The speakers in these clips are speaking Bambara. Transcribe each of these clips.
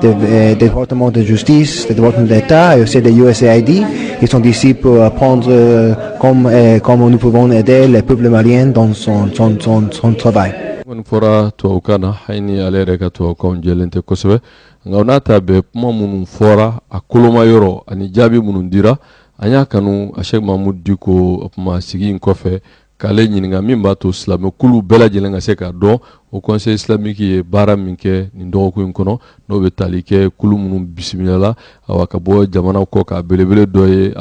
The, uh, Department of Justice, the Department d'État et aussi de USAID. Ils sont ici pour apprendre euh, comment, euh, comment nous pouvons aider le peuple malien dans son, son, son, son travail. kɔni fɔra tubabukan na hali ni ale yɛrɛ ka tubabukan jɛlen tɛ kosɛbɛ nka o n'a ta bɛɛ kuma minnu fɔra a koloma yɔrɔ ani jaabi minnu dira an y'a kanu a sɛk mamudu diko kuma sigi in kɔfɛ k'ale ɲininka min b'a to silamɛkulu bɛɛ lajɛlen ka se k'a dɔn Haut conseil islamique ye baara min kɛ nin dɔgɔkun in kɔnɔ n'o bɛ tali kɛ kulu minnu bisimilala awa ka bɔ jamana kɔkan a belebele dɔ ye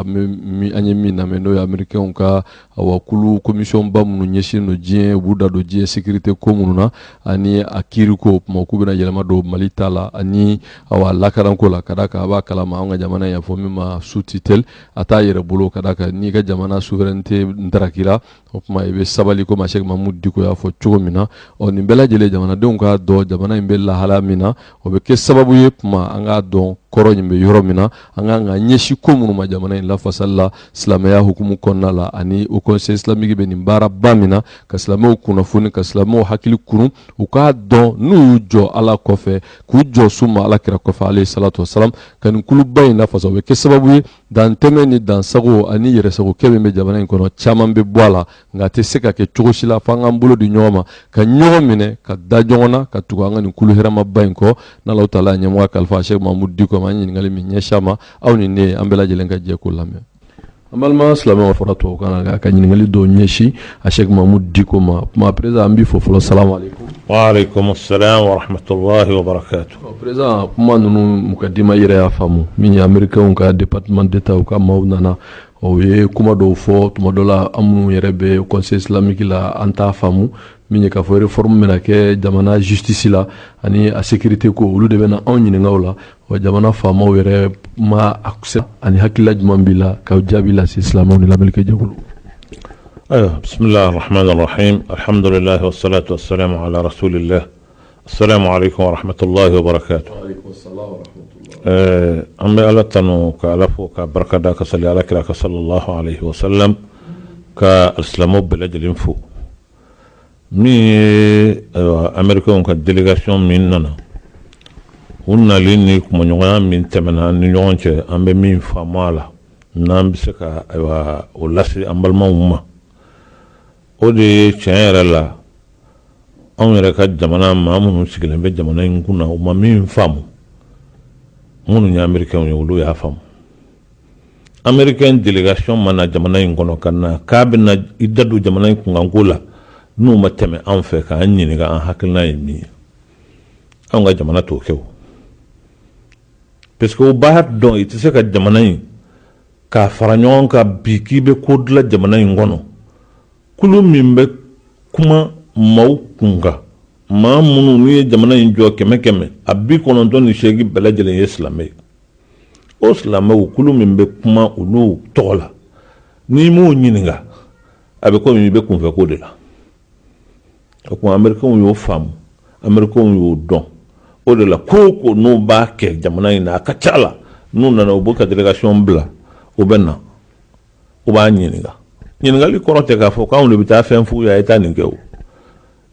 an ye min lamɛn n'o ye amerikɛnw ka awa kulu komisiyɔnba minnu ɲɛsin don diɲɛ u b'u da don diɲɛ sécurité ko minnu na ani a kiiri ko o tuma k'u bɛna yɛlɛma don mali ta la ani awa lakandako la ka da kan a b'a kalama an ka jamana y'a fɔ min ma sous tutelle a t'a yɛrɛ bolo ka da kan n'i ka jamana souveraineté ntarakira o tuma i bɛ sabali komi Sɛki Mamudu Diko y'a fɔ cogo min na ɔ nin bɛɛ lajɛlen jamanadenw k'a dɔn jamana in bɛ lahala min na o bɛ kɛ sababu ye o tuma an k'a dɔn kɔrɔ in bɛ yɔrɔ min na an k'an ɲɛsin ko minnu ma jamana in lafasali la silamɛya hukumu kɔnɔna la ani Haut conseil islamique bɛ nin baaraba min na ka silamɛw kunnafoni ka silamɛw hakili kunun u k'a dɔn n'u y'u jɔ Ala kɔfɛ k'u jɔ summa ala kira kɔfɛ alayhi salatu wasalam ka nin kuluba in lafasa o bɛ kɛ sababu ye dantɛmɛ ni dansagon ani yɛrɛsagokɛ min bɛ jamana in kɔnɔ caman bɛ bɔ a la nka a tɛ se ka kɛ cogo si la fo an k'an bolo di ɲɔgɔn ma ka ɲɔgɔn minɛ ka da ɲɔgɔn na ka tugu an ka nin kulu hɛrɛmaba in kɔ n'Alahu taala ɲɛmɔgɔ kalifa sɛk mamudu diko ma an ɲininkali min ɲɛsin a ma aw ni ne an bɛɛ lajɛlen ka jɛ k'o lamɛn An balima silamɛw fɔra tubabukan na nka ka ɲininkali dɔw ɲɛsin a Sɛki Mamudu Diko ma o tuma perezidan an b'i fo fɔlɔ salamuwalekum. Walekum salam wa rahmatulahi wa barakatu. Ɔ perezidan kuma ninnu mukadima i yɛrɛ y'a faamu min ye amerikɛnw ka departement d'Etat u ka maaw nana ɔ u ye kuma dɔw fɔ tuma dɔ la an minnu yɛrɛ bɛ conseil islamique la an t'a faamu min ye k'a fɔ réforme bɛna kɛ jamana justice la ani a sécurité ko olu de bɛna anw ɲininka o la Wa jamana faama yɛrɛ ma a ani hakilila jumɛn b'i la k'o jaabi lase silamɛ ni lamɛnnikɛ jɛkulu ayiwa bisimila hamadulilayi salatu sarasolila la sahamatoyibara ɛɛ an bɛ ala tanu ka ala fo ka barika da ka sali ala kira kan salalahu wasalam ka silamɛ bɛɛ lajɛlen fo min ye ayiwa amerikɛnw ka delegasiyɔn min nana u nalen ni kumaɲɔgɔnya min tɛmɛna an ni ɲɔgɔn cɛ an bɛ min faamu a la n'an bɛ se ka ayiwa o lase an balimaw ma o de ye tiɲɛ yɛrɛ la anw yɛrɛ ka jamana maa minnu sigilen bɛ jamana in kun na u ma min faamu minnu ye amerikɛnw ye olu y'a faamu amerikɛn delegasiyɔn ma na jamana in kɔnɔ ka na k'a bɛna i da don jamana in kunkanko la n'u ma tɛmɛ an fɛ k'an ɲininka an hakilina ye min ye an ka jamana t'o kɛ o parce que o b'a dɔn i tɛ se ka jamana in k'a fara ɲɔgɔn kan bi k'i bɛ ko dilan jamana in kɔnɔ kulu min bɛ kuma maaw kunkan maa minnu n'u ye jamana in jɔn kɛmɛ kɛmɛ la bi kɔnɔntɔn ni seegin bɛɛ lajɛlen ye silamɛ ye o silamɛkulu min bɛ kuma olu tɔgɔ la n'i m'o ɲininka a bɛ komi i bɛ kunfɛko de la o tuma ameriki y'o faamu ameriki y'o dɔn o de la ko o ko n'u b'a kɛ jamana in na a ka ca la n'u nana u b'u ka delegasiyɔn bila u bɛ na u b'an ɲininka ɲininkali kɔrɔ tɛ k'a fɔ k'anw de bɛ taa fɛn f'u ye a ye taa nin kɛ o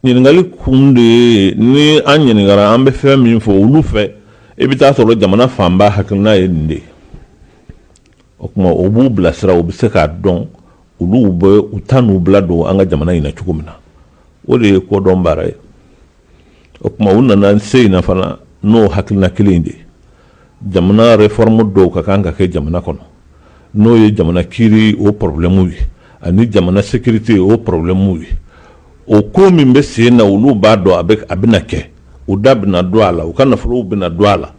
ɲininkali kun de ye ni an ɲininkara an bɛ fɛn min fɔ olu fɛ i bɛ taa sɔrɔ jamana fanba hakilina ye nin de ye o tuma o b'u bilasira u bɛ se k'a dɔn olu bɛ u da n'u bolo don an ka jamana in na cogo min na o de ye kodɔn baara ye o tuma u nana sen in na fana n'o hakilina kelen de ye jamana réforme dɔw ka kan ka kɛ jamana kɔnɔ n'o ye jamana kiri o problème ye ani jamana sécurité o problème ye o ko min bɛ sen na olu b'a dɔn a bɛ a bɛna kɛ u da bɛna don a la u ka nafolow bɛna don a la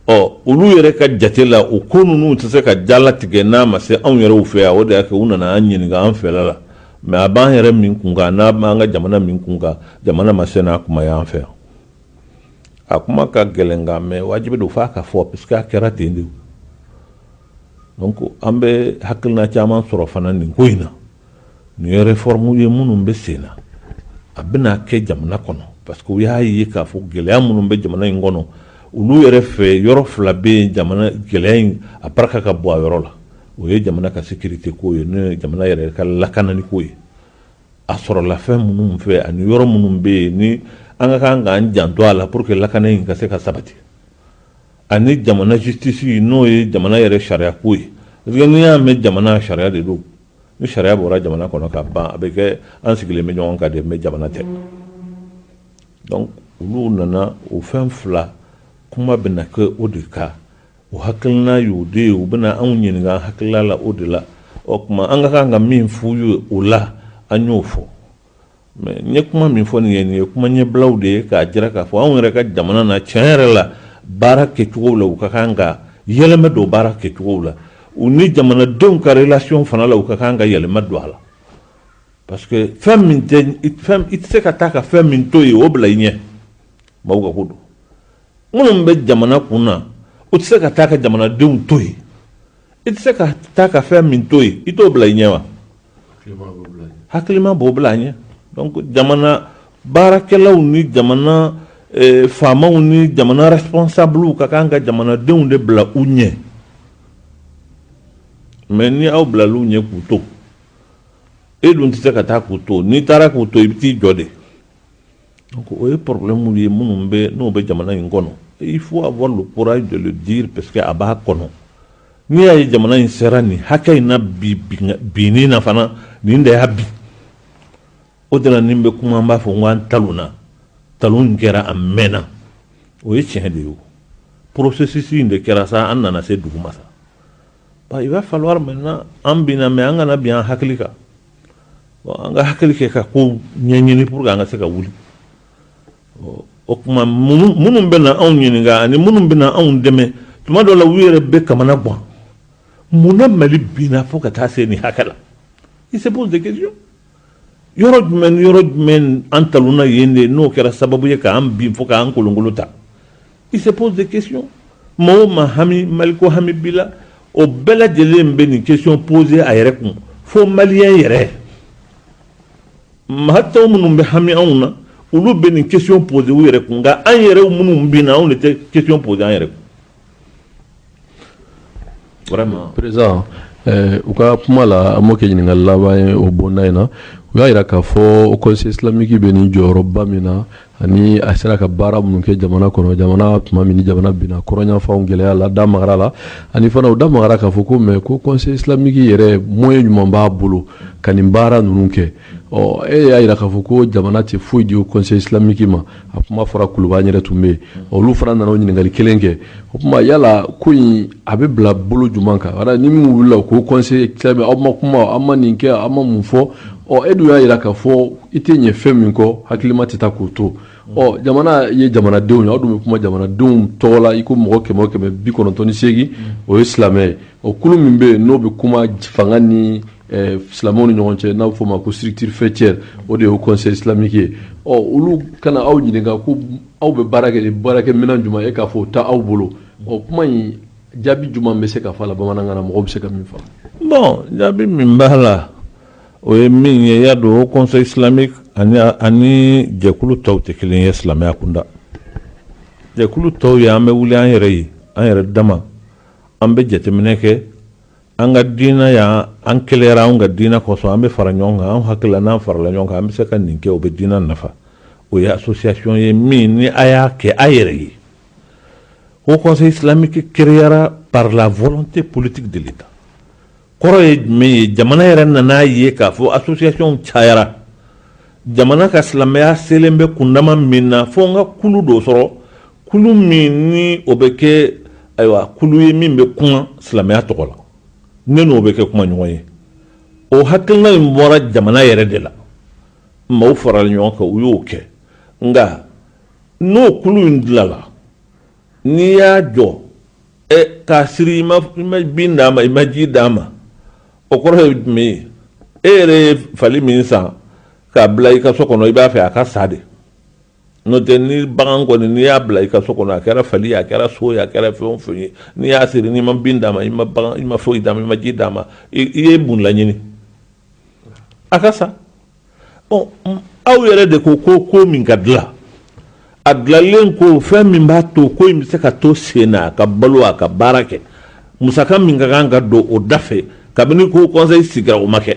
ɔ olu yɛrɛ ka jate la o ko ninnu tɛ se ka jala tigɛ n'a ma se anw yɛrɛw fɛ yan o de y'a kɛ u nana an ɲininka an fɛla la mɛ a b'an yɛrɛ min kun kan n'a b'an ka jamana min kun kan jamana ma se n'a kuma y'an fɛ yan a kuma ka gɛlɛn nka mɛ wajibi don f'a ka fɔ parce que a kɛra ten de ko an bɛ hakilina caman sɔrɔ fana nin ko in na nin réforme ye minnu bɛ sen na a bɛna kɛ jamana kɔnɔ parce que u y'a ye k'a fɔ gɛlɛya minnu bɛ jamana in kɔnɔ olu yɛrɛ fɛ yɔrɔ fila bɛ yen gɛlɛya in a barika ka bon a yɔrɔ la o ye jamana ka sécurité ko ye n'o ye jamana yɛrɛ ka lakanaliko ye a sɔrɔla fɛn minnu fɛ ani yɔrɔ minnu bɛ yen ni an ka kan k'an janto a la pour que lakana in ka se ka sabati ani jamana justice n'o ye jamana yɛrɛ sariya ko ye parce que n'i y'a mɛn jamana sariya de don ni sariya bɔra jamana kɔnɔ ka ban a bɛ kɛ an sigilen bɛ ɲɔgɔn kan de mɛ jamana tɛ donc olu nana o fɛn fila kuma bɛna kɛ o de kan O hakilina y'o de ye u bɛna anw ɲininka hakilila la o de la o tuma an ka kan ka min f'u ye o la an y'o fɔ mɛ n ye kuma min fɔ nin ye nin ye kuma ɲɛbilaw de ye k'a jira k'a fɔ anw yɛrɛ ka jamana na tiɲɛ yɛrɛ la baara kɛcogo la u ka kan ka yɛlɛma don baara kɛcogo la u ni jamanadenw ka relation fana la u ka kan ka yɛlɛma don a la parce que fɛn i tɛ se ka taa ka fɛn min to yen o bila i ɲɛ mɔgɔw ka ko don minnu bɛ jamana kun na u tɛ se ka taa ka jamanadenw to yen i tɛ se ka taa ka fɛn min to yen i t'o bila i ɲɛ wa hakilima b'o bila a ɲɛ jamana baarakɛlaw ni jamana eh, faamaw ni jamana responsabiliw ka kan ka jamanadenw de bila u ɲɛ mɛ ni aw bilala u ɲɛ k'u to e dun tɛ se ka taa k'u to n'i taara k'u to i bɛ t'i jɔ de O ye porobilɛmuw ye minnu bɛ n'o bɛ jamana in kɔnɔ i fo a bɔra bɔra jɔ di parce que a b'a kɔnɔ n'i y'a ye jamana in sera nin hakɛ in na bi bin na fana nin de y'a bin o de nin bɛ kuma b'a fɔ n anan ta na talon kɛra a mɛnna o ye tiɲɛ de ye porosisisi in de kɛra sa an nana se dugu ma sa i bɛ fa mɛn an binna mɛ an kana bin an hakili kan an ka hakili kɛ ka ko ɲɛɲini pour que an ka se ka wuli o tuma minnu bɛ na anw ɲini ani minnu bɛ anw dɛmɛ tuma dɔ la u yɛrɛ bɛ kamanagan munna mali binna fo ka taa se nin hakɛ la i se de yɔrɔ jumɛn yɔrɔ jumɛn an talonna yen de n'o kɛra sababu ye k'an bin fo k'an kolonkolon ta Ils se posent des questions maa o maa hami maliko hami b'i la o bɛɛ lajɛlen bɛ nin question pose a yɛrɛ kun fo maliyɛn yɛrɛ maa tɔw minnu bɛ hami anw na olu bɛ nin question pose u yɛrɛ kun nka an yɛrɛw minnu binna anw de tɛ question pose an yɛrɛ kun u ka kuma la an b'o kɛ ɲininka laban ye o bonda in na u y'a jira k'a fɔ kɔnsɛyi isilamiki bɛ nin jɔyɔrɔba min na ani a sera ka baara minnu kɛ jamana kɔnɔ jamana tuma min jamana binna kɔrɔn yanfan gɛlɛya la u da magara a la ani fana u da magara k'a fɔ ko mɛ ko kɔnsɛyi isilamiki yɛrɛ moyɛn jumɛn b'a bolo ka nin baara ninnu kɛ ɔ e y'a jira k'a fɔ ko jamana tɛ foyi di o kɔnsɛyi isilamiki ma a kuma fɔra kuluba yɛrɛ tun bɛ yen olu fana nana ɲininkali kelen kɛ o tuma yala ko in a bɛ bila bolo jumɛn kan ni min wulila la ko kɔnsɛyi isilamiki aw ma kuma aw ma nin kɛ aw ma mun fɔ ɔ e dun y'a jira k'a fɔ i tɛ ɲɛ fɛn min kɔ hakilima tɛ taa k'o to ɔ jamana ye jamanadenw ye aw dun bɛ kuma jamanadenw tɔgɔ la i ko mɔgɔ kɛmɛ o kɛmɛ bi kɔnɔntɔn ni seegin o ye silamɛ ye o kulu min bɛ yen n'o bɛ kuma fanga ni silamɛw ni ɲɔgɔn cɛ n'a bɛ fɔ o ma ko structure faîtière o de ye haut conseil islamique ye, ɔ olu ka na aw ɲininka ko aw bɛ baara kɛ ni baarakɛminɛn jumɛn ye k'a fɔ o tɛ aw bolo, ɔ kuma in jaabi jumɛn bɛ se ka fɔ a la bamanankan na mɔgɔw bɛ se ka min faamu? Bon jaabi min b'a la o ye min ye i y'a dɔn haut conseil islamique ani ani jɛkulu tɔw tɛ kelen ye silamɛya kunda, jɛkulu tɔw ye an bɛ wuli an yɛrɛ ye an yɛrɛ dama an bɛ jateminɛ kɛ an ka diinɛ yan an kelenyara an ka diinɛ kosɔn an bɛ fara ɲɔgɔn kan an hakili la n'an farala ɲɔgɔn kan an bɛ se ka nin kɛ o bɛ diinɛ nafa o ye association ye min ni a y'a kɛ a yɛrɛ ye haut conseil islamique créera par la volonté politique de l'État kɔrɔ ye jumɛn ye jamana yɛrɛ nan'a ye k'a fɔ association cayara jamana ka silamɛya selen bɛ kundama min na fo n ka kulu dɔ sɔrɔ kulu min ni o bɛ kɛ ayiwa kulu ye min bɛ kuma silamɛya tɔgɔ la ne n'o bɛ kɛ kumaɲɔgɔn ye o hakilina in bɔra jamana yɛrɛ de la maaw farala ɲɔgɔn kan u y'o kɛ nka n'o kulu in dilala n'i y'a jɔ ɛ k'a siri i ma bin d'a ma i ma ji d'a ma o kɔrɔ ye jumɛn ye e yɛrɛ ye fali min san k'a bila i ka so kɔnɔ i b'a fɛ a ka sa de n'o tɛ ni bagan kɔni n'i y'a bila i ka so kɔnɔ a kɛra fali a kɛra so a kɛra fɛn o fɛn ye n'i y'a siri n'i ma bin d'a ma i ma i ma foyi d'a ma i ma ji d'a ma i ye mun laɲini a ka sa ɔ aw yɛrɛ de ko ko ko min ka dilan a dilanlen ko fɛn min b'a to ko in bɛ se ka to sen na a ka balo a ka baara kɛ musaka min ka kan ka don o da fɛ kabini haut conseil sigira o ma kɛ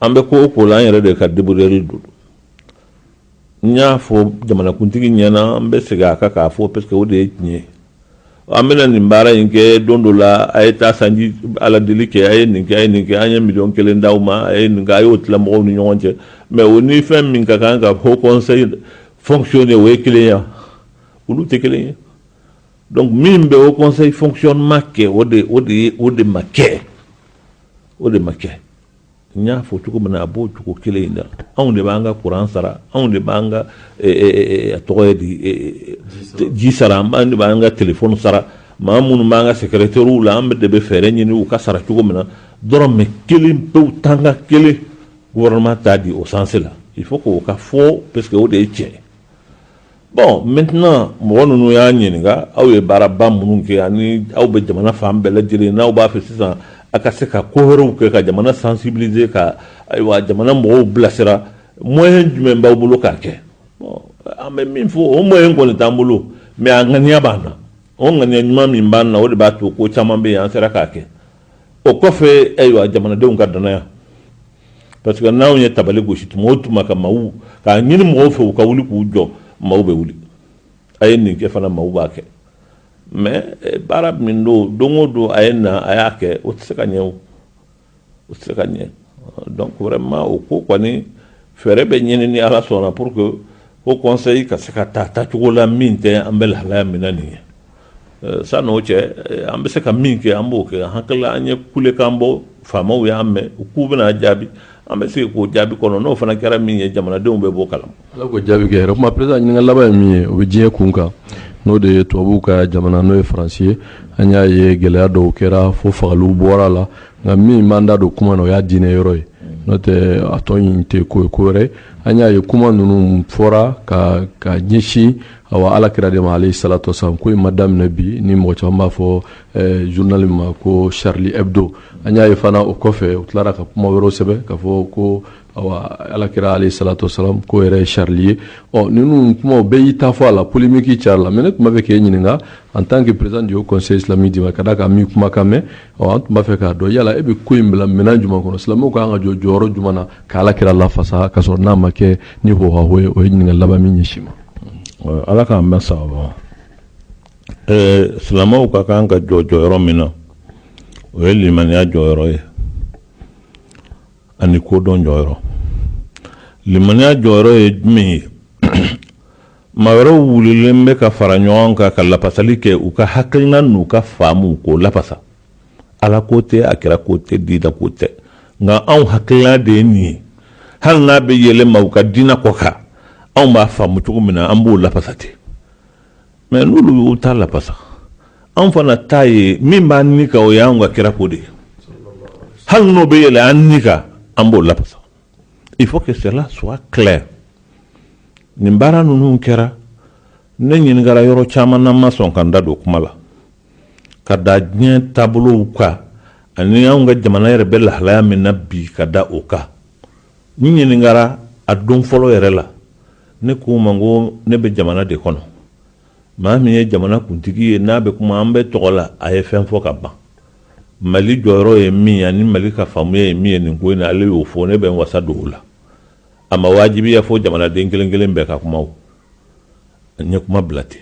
an bɛ ko o ko la an yɛrɛ de ka deburuyali don n y'a fɔ jamanakuntigi ɲɛna an bɛ segin a kan k'a fɔ parce que o de ye tiɲɛ ye an bɛna nin baara in kɛ don dɔ la a ye taa sanji ala deli kɛ a ye nin kɛ a ye nin kɛ an ye miliyɔn kelen d'aw ma a ye nin kɛ a y'o tila mɔgɔw ni ɲɔgɔn cɛ mais o ni fɛn min ka kan ka haut conseil fonctionner o ye kelen ya olu tɛ kelen ye donc min bɛ haut conseil fonctionnement kɛ o de o de ye o de ma kɛ o de ma kɛ n y'a fɔ cogo min na a b'o cogo kelen de la anw de b'an ka kuran sara anw de b'an ka tɔgɔ ye di ji sara an de b'an ka téléphone sara maa minnu b'an ka secrétairew la an bɛ de bɛ fɛɛrɛ ɲini u ka sara cogo min na dɔrɔmɛ kelen pe tanka kelen gouvernement t'a di o sens la il faut que o ka fɔ parce que o de ye tiɲɛ Bon maintenant mɔgɔ ninnu y'a ɲininka aw ye baaraba minnu kɛ ani aw bɛ jamana fan bɛɛ lajɛlen n'aw b'a fɛ sisan a ka se ka ko wɛrɛw kɛ ka jamana sensibiliser ka ayiwa jamana mɔgɔw bilasira moyen jumɛn b'aw bolo k'a kɛ bon an bɛ min fɔ o moyen kɔni t'an bolo mais a ŋaniya b'an na o ŋaniya ɲuman min b'an na o de b'a to ko caman bɛ yen an sera k'a kɛ o kɔfɛ ayiwa jamanadenw ka danaya parce que n'anw ye tabali gosi tuma o tuma ka maaw k'a ɲini mɔgɔw fɛ u ka wuli k'u jɔ maaw bɛ wuli a ye nin kɛ fana maaw b'a kɛ mais eh, baara min don don o don a ye na a y'a kɛ o tɛ se ka ɲɛ o o tɛ se ka ɲɛ donc vraiment o ko kɔni fɛɛrɛ bɛ ɲini ni ala sɔnna pour que haut conseil ka se ka taa taacogo la min tɛ an bɛ lahalaya min na nin ye Sann'o cɛ an bɛ se ka min kɛ an b'o kɛ an hakili an ye kulekan bɔ faamaw y'a mɛn u k'u bɛna jaabi an bɛ se k'o jaabi kɔnɔ n'o fana kɛra min ye jamanadenw bɛ bɔ a kala ma ala k'o jaabi kɛ o p ɲininkali laban ye min ye o bɛ diɲɛ kun kan n'o de ye tubabu ka jamana n'o ye faransi ye an y'a ye gɛlɛya dɔw kɛra fo fagaliw bɔra a la nka min b'an da don kuma na o y'a diinɛ yɔrɔ ye n'o tɛ a tɔ in tɛ ko ye ko wɛrɛ an y'a ye kuma ninnu fɔra ka ka ɲɛsin Awa Ala kira de ma alehi salatu wa salam ko in ma daminɛ bi ni mɔgɔ caman b'a fɔ ɛɛ journal min ma ko Charlie Hebdo an y'a ye fana o kɔfɛ u tilara ka kuma wɛrɛw sɛbɛn ka fɔ ko awa Ala kira alehi salatu wa salam k'o yɛrɛ ye Charlie ye ɔ ninnu kumaw bɛɛ y'i ta fɔ a la polémique cayara a la mais ne tun b'a fɛ k'e ɲininka en tant que président du haut conseil islamique du Mali ka d'a kan an b'i kumakan mɛn ɔ an tun b'a fɛ k'a dɔn yala e bɛ ko in bila minɛn jumɛn kɔnɔ silamɛw ka kan ka jɔ jɔyɔrɔ jumɛn na ka Ala kira lafasa ka sɔrɔ n'a ma kɛ ni hohaho ye o ye ɲininkali laban ye min ɲɛsin i ma ala k'an bɛɛ saba silamɛw ka kan ka jɔ jɔyɔrɔ min na o ye limaniya jɔyɔrɔ ye ani kodɔn jɔyɔrɔ limaniya jɔyɔrɔ ye jumɛn ye maa wɛrɛw wulilen bɛ ka fara ɲɔgɔn kan ka lafasali kɛ u ka hakilina n'u ka faamu k'o lafasa ala ko tɛ a kira ko tɛ diinɛ ko tɛ nka anw hakilila de ye nin ye hali n'a bɛ yɛlɛn maaw ka diinɛ kɔ kan anw b'a faamu cogo min na an b'o lafasa ten mais n'olu y'u ta lafasa anw fana ta ye min b'an ni kan o ye anw ka kira ko de ye hali n'o bɛ yɛlɛn an ni kan an b'o lafasa il faut que cela soit clair nin baara ninnu kɛra ne ɲininkara yɔrɔ caman na n ma sɔn ka n da don kuma la ka da diɲɛ taabolow kan ani anw ka jamana yɛrɛ bɛ lahalaya min na bi ka da o kan n ɲininkara a don fɔlɔ yɛrɛ la ne k'u ma ko ne bɛ jamana de kɔnɔ maa min ye jamana kuntigi ye n'a bɛ kuma an bɛɛ tɔgɔ la a ye fɛn fɔ ka ban mali jɔyɔrɔ ye min ani mali ka faamuya ye min ye nin ko in na ale y'o fɔ ne bɛ wasa don o la a ma wajibiya fo jamanaden kelen kelen bɛɛ ka kuma n ye kuma bila ten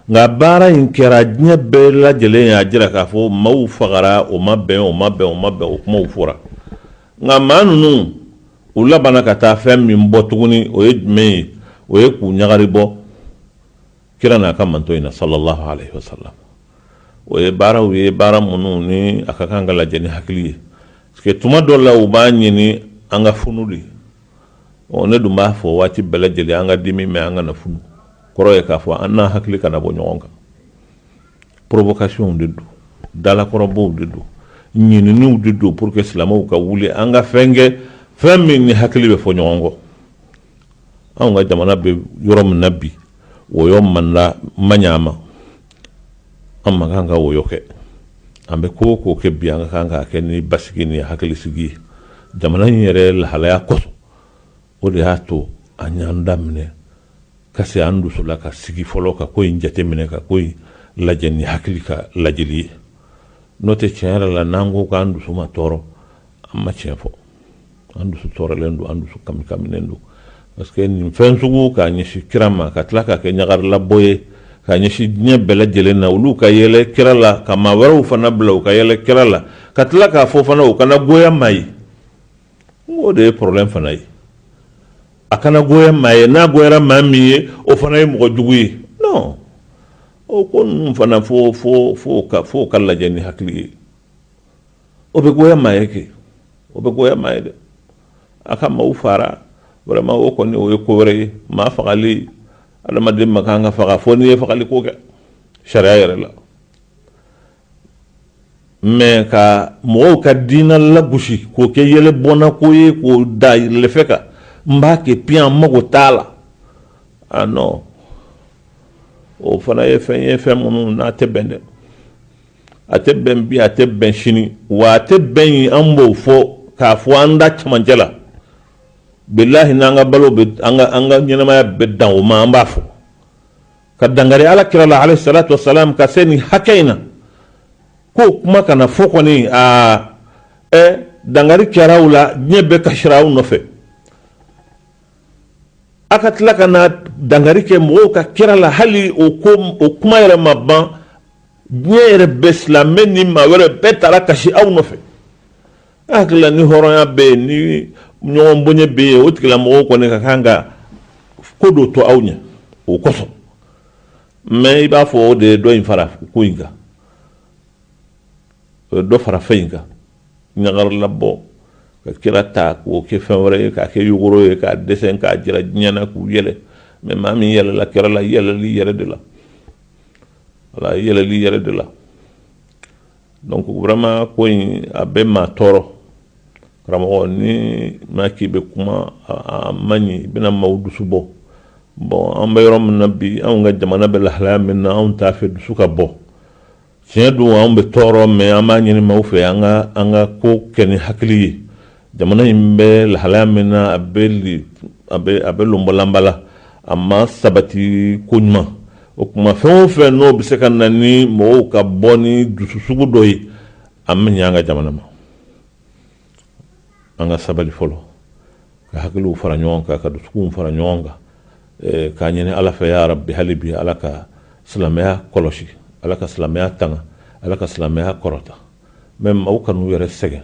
nka baara in kɛra diɲɛ bɛɛ lajɛlen y'a jira k'a fɔ maaw fagara o ma bɛn o ma bɛn o ma bɛn o kumaw fɔra nka maa ninnu u labanana ka taa fɛn min bɔ tuguni o ye jumɛn ye o ye k'u ɲagari bɔ kira n'a ka mantɔn in na sallallahu alaihi wasallam o ye baaraw ye baara minnu ni a ka kan ka lajɛ ni hakili ye parce que tuma dɔ la u b'a ɲini an ka funu de ɔ ne dun b'a fɔ waati bɛɛ lajɛlen an ka dimi mais an kana funu kɔrɔ ye k'a fɔ an n'an hakili kana bɔ ɲɔgɔn kan provocationw de don dalakɔrɔbɔw de don ɲininiw de don pour que silamɛw ka wuli an ka fɛn kɛ fɛn min ni hakili bɛ fɔ ɲɔgɔn kɔ anw ka jamana bɛ yɔrɔ min na bi wɔyɔ man man ɲ'an ma an man kan ka wɔyɔ kɛ an bɛ ko o ko kɛ bi an ka kan k'a kɛ ni basigi ni hakili sigi ye jamana in yɛrɛ lahalaya kosɔn o de y'a to an y'an da minɛ ka se an dusu la ka sigi fɔlɔ ka ko in jateminɛ ka ko in lajɛ ni hakili ka lajɛli ye n'o tɛ tiɲɛ yɛrɛ la n'an ko k'an dusu ma tɔɔrɔ an ma tiɲɛ fɔ an dusu tɔɔrɔlen don an dusu kamikaminen don parce que nin fɛn sugu k'a ɲɛsin kira ma ka tila k'a kɛ ɲagarilabɔ ye k'a jɛnsɛn diɲɛ bɛɛ lajɛlen na olu ka yɛlɛ kira la ka maa wɛrɛw fana bila u ka yɛlɛ kira la ka tila k'a fɔ fana a kana goya maa ye n o de ye problème fana ye a kana goya maa ye n'a goyara maa min ye o fana ye mɔgɔ jugu ye non o ko ninnu fana fo fo fo ka fo k'a lajɛ ni hakili ye o bɛ goya maa ye kɛ o bɛ goya maa ye dɛ a ka maaw faga vraiment o kɔni o ye ko wɛrɛ ye maa fagali adamaden man kan ka faga fo n'i ye fagali ko kɛ sariya yɛrɛ la mɛ ka mɔgɔw ka diinɛ lagosi k'o kɛ yɛlɛ bɔnna ko ye k'o da yɛlɛfɛn kan n b'a kɛ piyan n mago t'a la a ah, non o fana ye fɛn ye fɛn minnu n'a tɛ bɛn dɛ a tɛ bɛn bi a tɛ bɛn sini wa a tɛ bɛn ɲi an b'o fɔ k'a fɔ an da camancɛ la bilahi n'an ka balo an ka ɲɛnamaya bɛ dan o ma an b'a fɔ ka dankari ala kira la alehi salatu wa salam ka se nin hakɛ in na ko kuma kana fɔ kɔni aa ɛ dankari kɛr'aw la diɲɛ bɛɛ kasira aw nɔfɛ aw ka tila ka na dankari kɛ mɔgɔw ka kira la hali o kuma yɛrɛ ma ban diɲɛ yɛrɛ bɛɛ silamɛ ni maa wɛrɛ bɛɛ taara kasi aw nɔfɛ ne hakili la ni hɔrɔnya bɛ yen ni ɲɔgɔn bonya bɛ yen o tigilamɔgɔw kɔni ka kan ka ko dɔ to aw ɲɛ o kosɔn mɛ i b'a fɔ o de ye dɔ in fara ko in kan o ye dɔ fara fɛn in kan ɲagarilabɔ ka kira ta k'o kɛ fɛn wɛrɛ ye k'a kɛ yogoro ye k'a dessin k'a jira diɲɛ na k'u yɛlɛ mɛ maa min yɛlɛla kira la yɛlɛl'i yɛrɛ de la wala i yɛlɛl'i yɛrɛ de la donc vraiment ko in a bɛ maa tɔɔrɔ karamɔgɔ ni maa k'i bɛ kuma a man ɲi i bɛna maaw dusu bɔ bon an bɛ yɔrɔ min na bi anw ka jamana bɛ lahalaya min na anw t'a fɛ dusu ka bɔ tiɲɛ don anw bɛ tɔɔrɔ mɛ an b'a ɲini maaw fɛ an ka an ka ko kɛ ni hakili ye jamana in bɛ lahalaya min na a bɛ a bɛ lonbɔlanba la a ma sabati ko ɲuman o tuma fɛn o fɛ n'o bɛ se ka na ni mɔgɔw ka bɔ ni dusu sugu dɔ ye an bɛ ɲɛ an ka jamana ma an ka sabali fɔlɔ ka hakiliw fara ɲɔgɔn kan ka dusuw fara ɲɔgɔn kan eh, k'a ɲini ala fɛ yarabi hali bi ala ka silamɛya kɔlɔsi ala ka silamɛya tanga ala ka silamɛya kɔrɔta mɛ maaw kan'u yɛrɛ sɛgɛn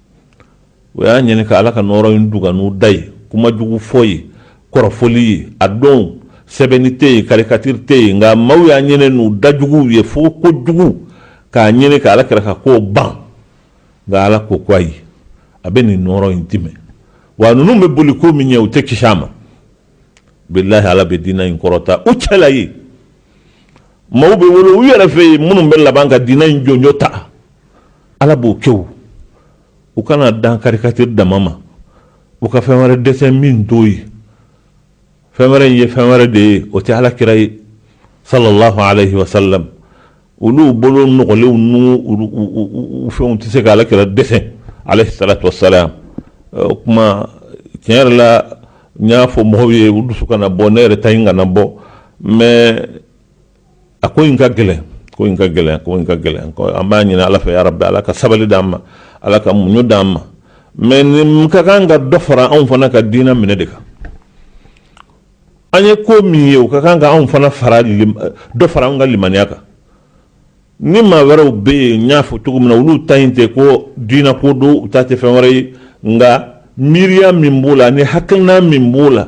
u y'a ɲini ka ala ka nɔɔrɔ in dugan n'u da ye kuma jugu fɔ ye kɔrɔfɔli ye a don sɛbɛnni tɛ yen karikatiri tɛ yen nka maaw y'a ɲini n'u da juguw ye fɔko jugu k'a ɲini ka ala kira ka ko ban nka ala ko ko ayi a bɛ nin nɔɔrɔ in tiimɛ wa ninnu bɛ boli ko min ɲɛ u tɛ kisi a ma bilayi ala bɛ diinɛ in kɔrɔta u cɛla ye maaw bɛ wolo u yɛrɛ fɛ yen minnu bɛ laban ka diinɛ in jɔnjɔ ta ala b'o kɛ o u kana dan karikatiri dama ma u ka fɛn wɛrɛ desɛn min t'o ye fɛn wɛrɛ in ye fɛn wɛrɛ de ye o tɛ ala kira ye sallallahu alayhi wa sallam olu bolo nɔgɔlenw n'u fɛnw tɛ se ka ala kira desɛn alayhi salatu wasalam o kuma tiɲɛ yɛrɛ la n y'a fɔ mɔgɔw ye u dusu kana bɔ ne yɛrɛ ta in kana bɔ mais a ko in ka gɛlɛn ko in ka gɛlɛn ko in ka gɛlɛn an b'a ɲini ala fɛ yarabi ala ka sabali d'an ma ala ka muɲu d'an ma mɛ nin ka kan ka dɔ fara anw fana ka diinɛ minɛ de kan an ye ko min ye o ka kan ka anw fana dɔ fara an ka limaniya kan ni maa wɛrɛw bɛ yen n y'a fɔ cogo min na olu ta in tɛ ko diinako don u ta tɛ fɛn wɛrɛ ye nka miiriya min b'o la ani hakilina min b'o la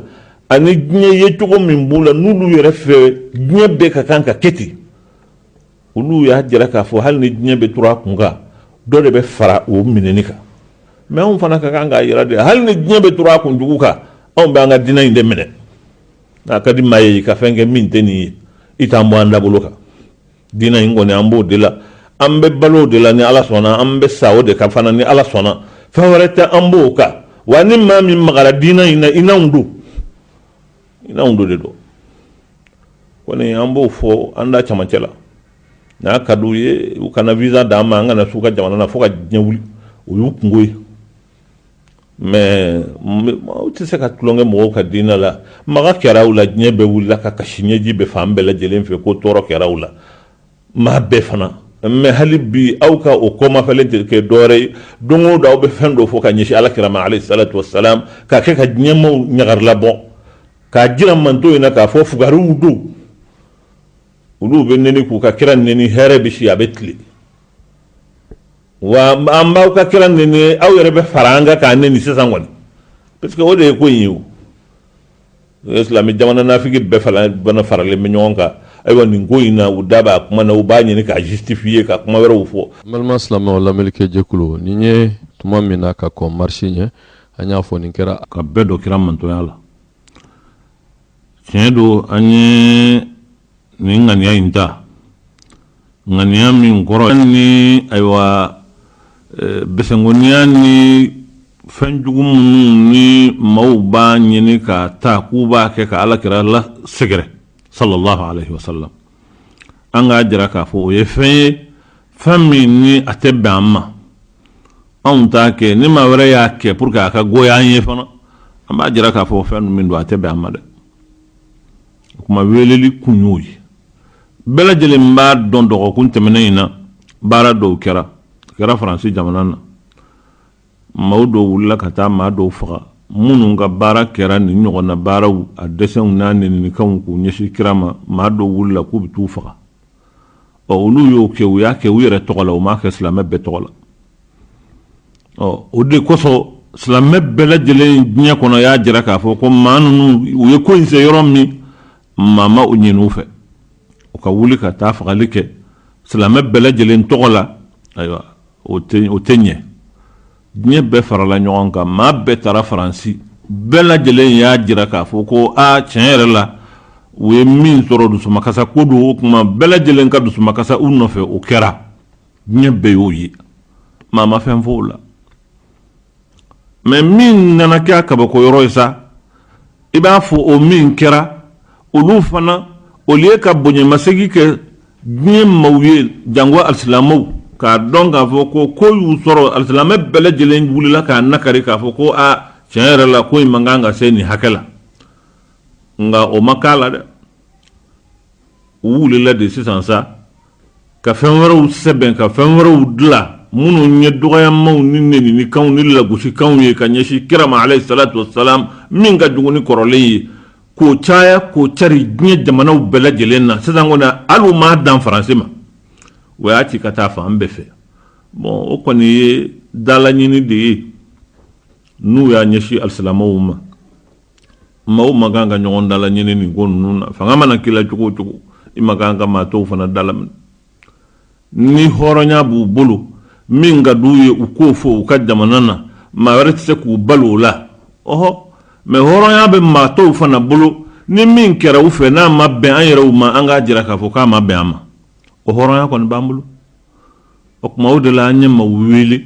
ani diɲɛ ye cogo min b'o la n'olu yɛrɛ fɛ diɲɛ bɛɛ ka kan ka kɛ ten olu y'a jira k'a fɔ hali ni diɲɛ bɛ turu a kun kan dɔ de bɛ fara o minɛni kan mɛ anw fana ka kan k'a yira de hali ni diɲɛ bɛ turu a kun jugu kan anw bɛ an ka diinɛ in de minɛ n'a ka di maa ye i ka fɛn kɛ min tɛ nin ye i t'an bɔ an dabolo kan Diinɛ in kɔni an b'o de la an bɛ balo o de la ni ala sɔnna an bɛ sa o de kan fana ni ala sɔnna fɛn wɛrɛ tɛ an bɔ o kan wa ni maa min magara diinɛ in na i n'anw don i n'anw don de don kɔni an b'o fɔ an da camancɛ la n'a ka di u ye u kana visa d'an ma an kana s'u ka jamana na fo ka diɲɛ wuli o y'u kungo ye mɛ aw tɛ se ka tulonkɛ mɔgɔw ka diinɛ la maga kɛra aw la diɲɛ bɛɛ wulila ka kasi ɲɛji bɛ fan bɛɛ lajɛlen fɛ ko tɔɔrɔ kɛra aw la maa bɛɛ fana mɛ hali bi aw ka o kɔmafɛlen terikɛ dɔwɛrɛ ye don o don aw bɛ fɛn dɔ fɔ ka ɲɛsin ala kira ma alayhi salatu wasalam ka kɛ ka diɲɛmaaw ɲagaribɔ k'a jira manton in na k'a fɔ fugw don olu bɛ n k'u ka kira ni hɛrɛ bɛ si a bɛ tile wa an b'aw ka kira nɛni aw yɛrɛ bɛ fara an kan k'a nɛni sisan kɔni parce que o de ye ko in ye o silamɛ jamana nafiki bɛɛ fana bana faralen bɛ ɲɔgɔn kan ayiwa nin ko in na u da b'a kuma na u b'a ɲini k'a justifier ka kuma wɛrɛw fɔ balima silamɛw lamɛnlikɛ jɛkulu nin ye tuma min na ka kɔn marisi ɲɛ an y'a fɔ nin kɛra ka bɛɛ dɔ kira mantonya la tiɲɛ don an ye nin ŋaniya in ta ŋaniya min kɔrɔ ni ayiwa eh, bɛsɛnkoniya ni fɛn jugu minnu ni maaw b'a ɲini ka ta k'u b'a kɛ ka ala kira lasɛgɛrɛ sallallahu alaihi wasallam an k'a jira k'a fɔ o ye fɛn ye fɛn min ni a tɛ bɛn an ma anw t'a kɛ ni maa wɛrɛ y'a kɛ pour que a ka goya an ye fana an b'a jira k'a fɔ fɛn min don a tɛ bɛn an ma dɛ o kuma weeleli kun y'o ye bɛɛ lajɛlen b'a dɔn dɔgɔkun tɛmɛnen in na baara dɔw kɛra a kɛra faransi jamana na maaw dɔw wulila ka taa maa dɔw faga minnu ka baara kɛra nin ɲɔgɔnna baaraw a desɛnw n'a nɛnikanw k'u ɲɛsin kira ma maa dɔw wulila k'u bɛ t'u faga ɔ olu y'o kɛ u y'a kɛ u yɛrɛ tɔgɔ la u m'a kɛ silamɛ bɛɛ tɔgɔ la ɔ o de kosɔn silamɛ bɛɛ lajɛlen diɲɛ kɔnɔ y'a jira k'a fɔ ko maa ninnu u ye ko in se yɔrɔ min maa ma o ɲini u fɛ u ka wuli ka taa fagali kɛ silamɛ bɛɛ lajɛlen tɔgɔ la ayiwa o tɛ ɲɛ diɲɛ bɛɛ farala ɲɔgɔn kan maa bɛɛ taara faransi bɛɛ lajɛlen y'a jira k'a fɔ ko a tiɲɛ yɛrɛ la u ye min sɔrɔ dusumakasa ko don o kuma bɛɛ lajɛlen ka dusumakasa u nɔfɛ o kɛra diɲɛ bɛɛ y'o ye maa ma fɛn fɔ o la mais min nana kɛ a kabako yɔrɔ ye sa i b'a fɔ o min kɛra olu fana olu y'u ka bonyamasegin kɛ diɲɛ maaw ye jango alisilamɛw k'a dɔn k'a fɔ ko ko y'u sɔrɔ alisilamɛ bɛɛ lajɛlen wulila k'a nakari k'a fɔ ko a tiɲɛ yɛrɛ la ko in man kan ka se nin hakɛ la nka o ma k'a la dɛ u wulila de sisan sa ka fɛn wɛrɛw sɛbɛn ka fɛn wɛrɛw dilan minnu ye dɔgɔyamaw ni nɛnikanw ni lagosikanw ye ka ɲɛsin kira ma alaihi salatu wasalam min ka jugu ni kɔrɔlen ye k'o caya k'o cari diɲɛ jamanaw bɛɛ lajɛlen na sisan kɔni hali u m'a dan faransi ma u y'a ci ka taa fan bɛɛ fɛ bon o kɔni ye dalaɲini de ye n'u y'a ɲɛsin alisilamɛw ma maaw man kan ka ɲɔgɔn dalaɲini nin ko ninnu na fanga mana k'i la cogo o cogo i man kan ka maa tɔw fana dalaminɛ ni hɔrɔnya b'u bolo min ka d'u ye u k'o fɔ u ka jamana na maa wɛrɛ tɛ se k'u bali o la ɔhɔ mais hɔrɔnya bɛ maa tɔw fana bolo ni min kɛra u fɛ n'a ma bɛn an yɛrɛw ma an k'a jira k'a fɔ k'a ma bɛn an ma o hɔrɔnya kɔni b'an bolo o tuma o de la an ye maaw wele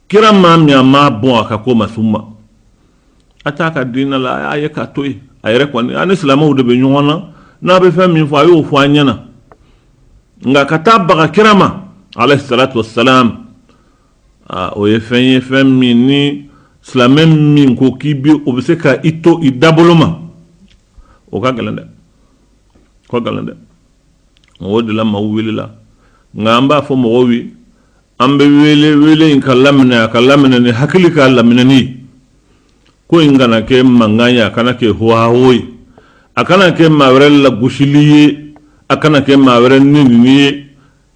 kira maa min a ma bɔn a ka ko ma sun ma a t'a ka diinɛ la a y'a ye k'a to yen a yɛrɛ kɔni a ni silamɛw de bɛ ɲɔgɔn na n'a bɛ fɛn min fɔ a y'o fɔ an ɲɛna nka ka taa baga kira ma alayhi salatu wa salam o ye fɛn ye fɛn min ni silamɛ min ko k'i bɛ o bɛ se ka i to i dabolo ma o ka gɛlɛn dɛ o ka gɛlɛn dɛ mɔgɔw de la maaw wulila nka an b'a fɔ mɔgɔw ye an bɛ wele wele in ka laminɛ a ka laminɛ ni hakili ka laminɛ ni ko in kana kɛ mankan ye a kana kɛ hohaho ye a kana kɛ maa wɛrɛ lagosili ye a kana kɛ maa wɛrɛ nenini ye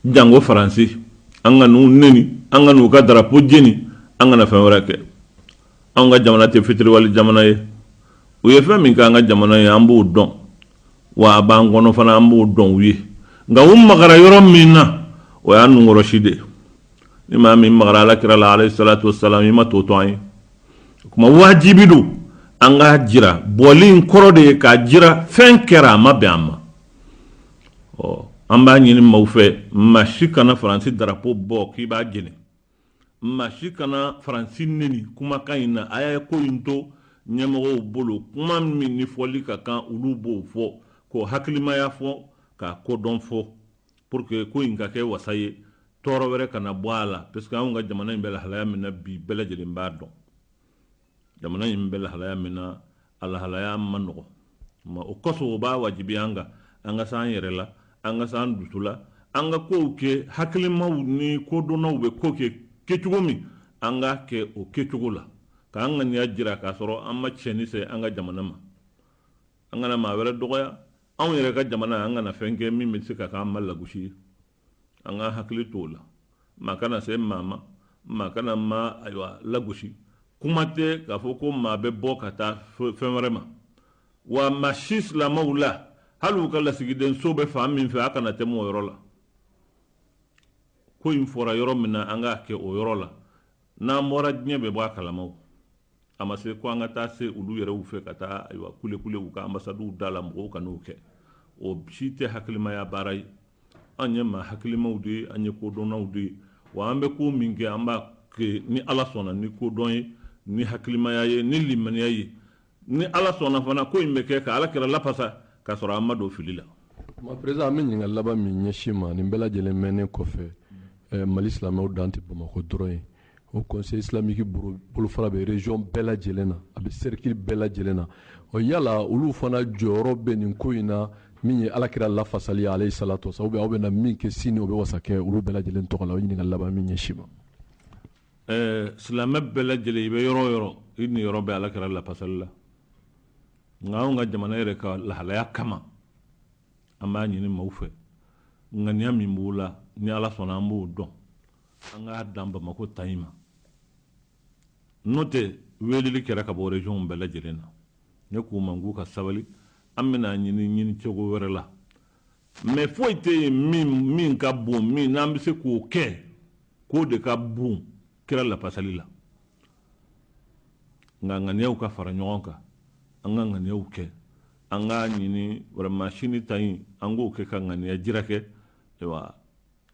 jango faransi an kan'u neni an kan'u ka darapo jeni an kana fɛn wɛrɛ kɛ an ka jamana tɛ fitiriwale jamana ye u ye fɛn min kɛ an ka jamana ye an b'o dɔn wa a b'an kɔnɔ fana an b'o dɔn u ye nka u magara yɔrɔ min na o y'an nunkɔrɔsi de ni maa min magara ala kira la alayhi salatu wasalam i ma tɔ to an ye o kuma wajibi don an k'a jira bɔli in kɔrɔ de ye k'a jira fɛn kɛra a ma bɛn an ma ɔ an b'a ɲini maaw fɛ maa si kana faransi darapo bɔ k'i b'a jeni maa si kana faransi neni kumakan in na a y'a ye ko in to ɲɛmɔgɔw bolo kuma min ni fɔli ka kan olu b'o fɔ k'o hakilimaya fɔ k'a kodɔn fɔ pour que ko in ka kɛ wasa ye tɔɔrɔ wɛrɛ kana bɔ a la parce que anw ka jamana in bɛ lahalaya min na bi bɛɛ lajɛlen b'a dɔn jamana in bɛ lahalaya min na a lahalaya man nɔgɔ ma o kɔsɔn o b'a wajibiya an kan an ka se an yɛrɛ la an ka se an dusu la an ka kow kɛ hakilimaw ni kodɔnnaw bɛ ko kɛ kɛcogo min an k'a kɛ o kɛcogo la k'an ŋaniya jira k'a sɔrɔ an ma tiɲɛni se an ka jamana ma an kana maa wɛrɛ dɔgɔya anw yɛrɛ ka jamana an kana fɛn kɛ min bɛ se ka k'an ma lagosi ye an ka hakili to o la maa kana se maa ma maa kana maa ayiwa lagosi kuma tɛ k'a fɔ ko maa bɛ bɔ ka taa fɛn wɛrɛ ma wa maa si silamɛw la hali u ka lasigiden so bɛ fan min fɛ a kana tɛmɛ o yɔrɔ la ko in fɔra yɔrɔ min na an k'a kɛ o yɔrɔ la N'an bɔra diɲɛ bɛ bɔ a kalama a ma se ko an ka taa se olu yɛrɛw fɛ ka taa ayiwa kulekule u ka anbasadiw da la mɔgɔw kan'o kɛ o si tɛ hakilimaya baara ye an ye maa hakilimaw de ye an ye kodɔnnaw de ye wa an bɛ ko min kɛ an b'a kɛ ni ala sɔnna ni kodɔn ye ni hakilimaya ye ni limaniya ye Ni Ala sɔnna fana ko in bɛ kɛ ka Alakira lafasa k'a sɔrɔ an ma don fili la. Maa Peresidan, an bɛ ɲininkali laban min ɲɛsin i ma, nin bɛɛ lajɛlen mɛnnen kɔfɛ, Mali silamɛw dan tɛ Bamakɔ dɔrɔn ye. Haut Conseil islamique bolofara bɛ region bɛɛ lajɛlen na, a bɛ cercle bɛɛ lajɛlen na. Ɔ yala olu fana jɔyɔrɔ bɛ nin ko in na min ye Alakira lafasali ye alayihi salatu wa salam, ou bien aw bɛna min kɛ sini o bɛ wasa kɛ olu bɛɛ lajɛlen tɔgɔ la? O ye ɲininkali laban ye min ɲɛsin i ma. Ɛɛ silamɛ bɛɛ lajɛlen i bɛ yɔrɔ o yɔrɔ i niyɔrɔ bɛ ala kira lapasali la nka anw ka jamana yɛrɛ ka lahalaya kama an b'a ɲini maaw fɛ ŋaniya min b'o la ni ala sɔnna an b'o dɔn an k'a dan bamakɔ ta in ma n'o tɛ weleli kɛra ka bɔ regionw bɛɛ lajɛlen na ne k'u ma k'u ka sabali an bɛna nin ɲini cogo wɛrɛ la mɛ foyi tɛ yen min min ka bon min n'an bɛ se k'o kɛ k'o de ka bon kira lapasali la nka ŋaniyaw ka fara ɲɔgɔn kan an ka ŋaniyaw kɛ an k'a ɲini vraiment sini ta in an k'o kɛ ka ŋaniya jira kɛ ayiwa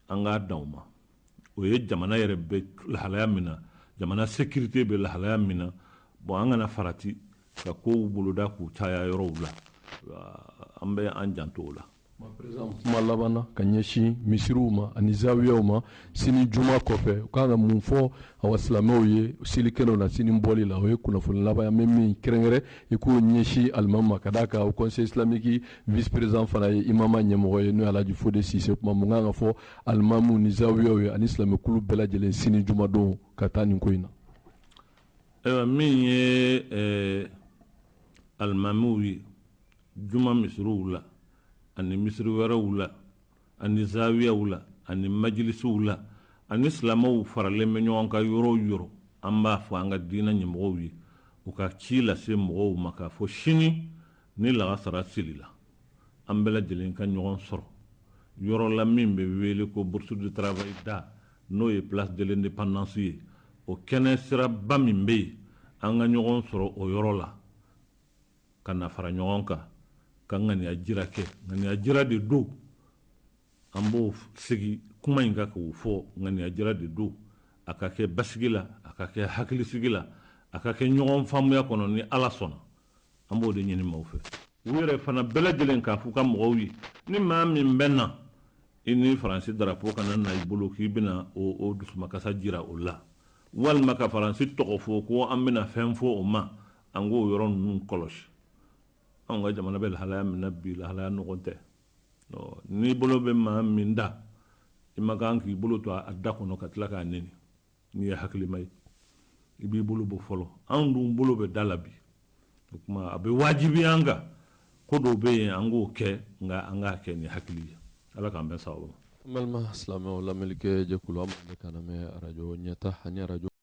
an k'a dan o ma o ye jamana yɛrɛ bɛ lahalaya min na jamana sekirite bɛ lahalaya min na bɔn an kana farati ka kow boloda k'u caya yɔrɔw la an bɛ an janto o la kuma laban na ka ɲɛsin misiriw ma ani zawiyaw ma sini juma kɔfɛ u kan ka mun fɔ awa silamɛw ye selikɛlaw na sini bɔli la o ye kunnafoni laban ye an bɛ min kɛrɛnkɛrɛn i k'o ɲɛsin alimami ma ka d'a kan haut conseil islamique vice président fana ye imama ɲɛmɔgɔ ye n'o ye alhaji fode sise kuma mun kan ka fɔ alimamiw ni zawiyaw ye ani silamɛkulu bɛɛ lajɛlen sini jumadon ka taa nin ko in na ayiwa min ye eh, alimamiw ye juma misiriw la ani misiri wɛrɛw la ani zawiyaw la ani majilisiw la ani silamɛw faralen bɛ ɲɔgɔn kan yɔrɔ o yɔrɔ an b'a fɔ an ka diinɛ ɲɛmɔgɔw ye u ka ci lase mɔgɔw ma k'a fɔ sini ni lagansara selila an bɛɛ lajɛlen ka ɲɔgɔn sɔrɔ yɔrɔ la min bɛ wele ko bourse du travail da n'o ye place de l'indépendance ye o kɛnɛ siraba min bɛ yen an ka ɲɔgɔn sɔrɔ o yɔrɔ la ka na fara ɲɔgɔn kan ka ŋaniya jira kɛ ŋaniya jira de don an bɛ segin kuma in kan k'o fɔ ŋaniya jira de don a ka kɛ basigi la a ka kɛ hakilisigi la a ka kɛ ɲɔgɔn faamuya kɔnɔ ni ala sɔnna an b'o de ɲini maaw fɛ u yɛrɛ fana bɛɛ lajɛlen k'a f'u ka mɔgɔw ye ni maa min bɛ na i ni faransi darapo kana na i bolo k'i bɛna o dusumakasi jira o la walima ka faransi tɔgɔ fɔ ko an bɛna fɛn fɔ o ma an k'o yɔrɔ ninnu kɔlɔsi anw ka jamana bɛ lahalaya min na bi lahalaya nɔgɔman tɛ n'i bolo bɛ maa min da i ma kan k'i bolo to a da kɔnɔ ka tila k'a neni n'i ye hakilima ye i b'i bolo bɔ fɔlɔ anw dun bolo bɛ da la bi o tuma a bɛ wajibiya an kan ko dɔw bɛ yen an k'o kɛ nka an k'a kɛ ni hakili ye ala k'an bɛn sababu ma. An balima silamɛw lamɛnlikɛ jɛkulu aw bɛ k'an lamɛn arajo ɲɛta ani arajo